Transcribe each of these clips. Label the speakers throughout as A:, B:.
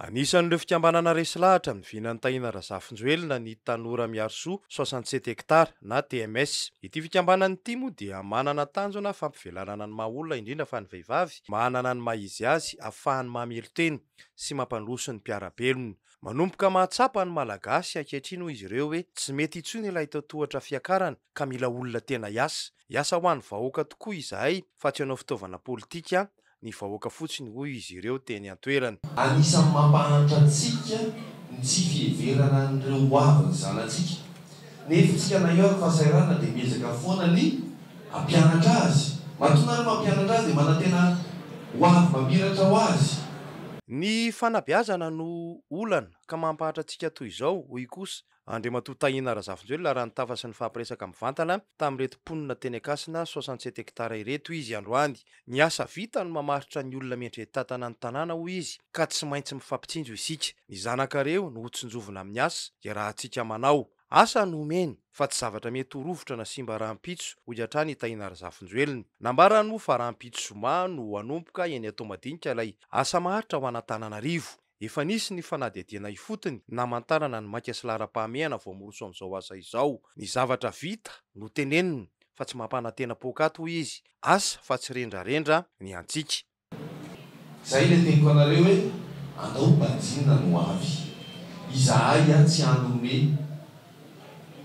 A: Anisan'ireo fikambanana resy lahatra amin'ny vinan'i Tahina Razafinjoelina ny Tanora Miarisoa soixante sept hectares na TMS. Ity fikambanana ity moa dia manana tanjona fampivelarana ny maha olona indrindra fa ny vehivavy manana ny maha izy azy afahany mamelon-tena sy mampandroso ny mpiara-belona. Manomboka mahatsapa ny Malagasy ankehitriny hoy izy ireo hoe tsy mety intsony ilay totohatra fiakarana ka mila olona tena hiasa. Hiasa ho an'ny vahoaka tokoa izahay fa tsy hanao fitaovana politika ny vahoaka fotsiny, hoy izy ireo teny an-toerana. Anisan'ny mampahantra
B: antsika ny tsy fiheverana an'ireo ho avin'ny zanatsika. Ny hevintsika na eo ary fahasahiranana dia miezaka foana ny hampianatra azy. Matoa ary mampianatra azy dia manantena ho avy mamiratra ho azy. Ny
A: fanabeazana no olana ka mampahantra antsika toy izao, hoy kosa Andriamatoa Tahina Razafinjoelina raha nitafa sy nifampiresaka mivantana tamin'ireto mponina teny Ankasina soixante sept hectares ireto izy androany. Ny asa vita no mamaritra ny olona miantrentantana ny tanàna hoy izy ka tsy maintsy mifampitsinjo isika. Ny zanakareo no hotsinjovina amin'ny asa iarahantsika manao. Asa no omeny fa tsy zavatra mety ho rovitra na simba rahampitso hoy hatrany i Tahina Razafinjoelina. Nambarany moa fa rahampitso zoma no hanomboka eny Toamadinika ilay asa maharitra ho an'Antananarivo. Efa nisy ny fanadihadiana ifotony namantarana ny maika sy laharam-pahamehana voamoronso amin'izao asa izao. Ny zavatra vita no teneniny fa tsy mampanantena poakaty hoy izy, asa fa tsy rendrarendra ny antsika.
B: Izay ilay teniko anareo hoe andao ho banjinina ny ho avy. Izahay ihany tsy hany homehy.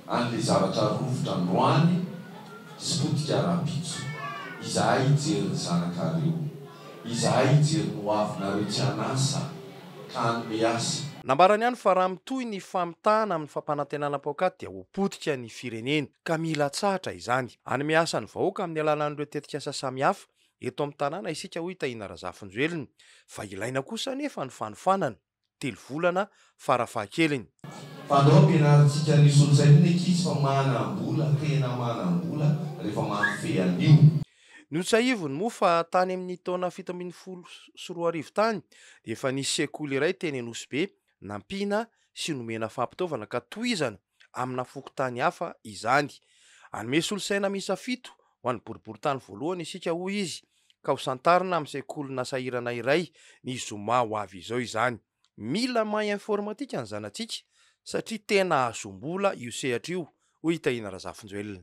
B: an'ilay zavatra rovitra androany sy potika rahampitso. Izahay hijery ny zanakareo. Izahay hijery ny hoavinareo tsy an'asa ka hanome asa. Nambarany ihany fa raha
A: mitohy ny famitahana amin'ny fampanantenana paok'ady dia ho potika ny firenena ka mila atsahatra izany. Hanome asa ny vahoaka amin'ny alalan'ireo tetikasa samihafa eto amin'ny tanàna isika hoy Tahina Razafinjoelina fa ilaina kosa anefa ny fanofanana. telo volana fara fahakeliny. Fanao
B: ampianarintsika ny solosain'ny ny ankizy fa manam-bola, tena manam-bola rehefa mahafehy an'io. Notsahiviny
A: moa fa tany amin'ny taona fito ambin'ny folo sy roa arivo tany dia efa nisy sekoly iray teny Anosibe nampiana sy nomena fampitaovana ka tohizana amina fokontany hafa izany. Hanome solosaina miisa fito ho an'ny boriborintany voalohany isika, hoy izy, ka hosantarina amin'ny sekolina sahirana iray ny zoma ho avy izao izany. Mila mahay informatika ny zanatsika satria tena hahazoam-bola io sehatra io, hoy i Tahiana Razafinjoelina.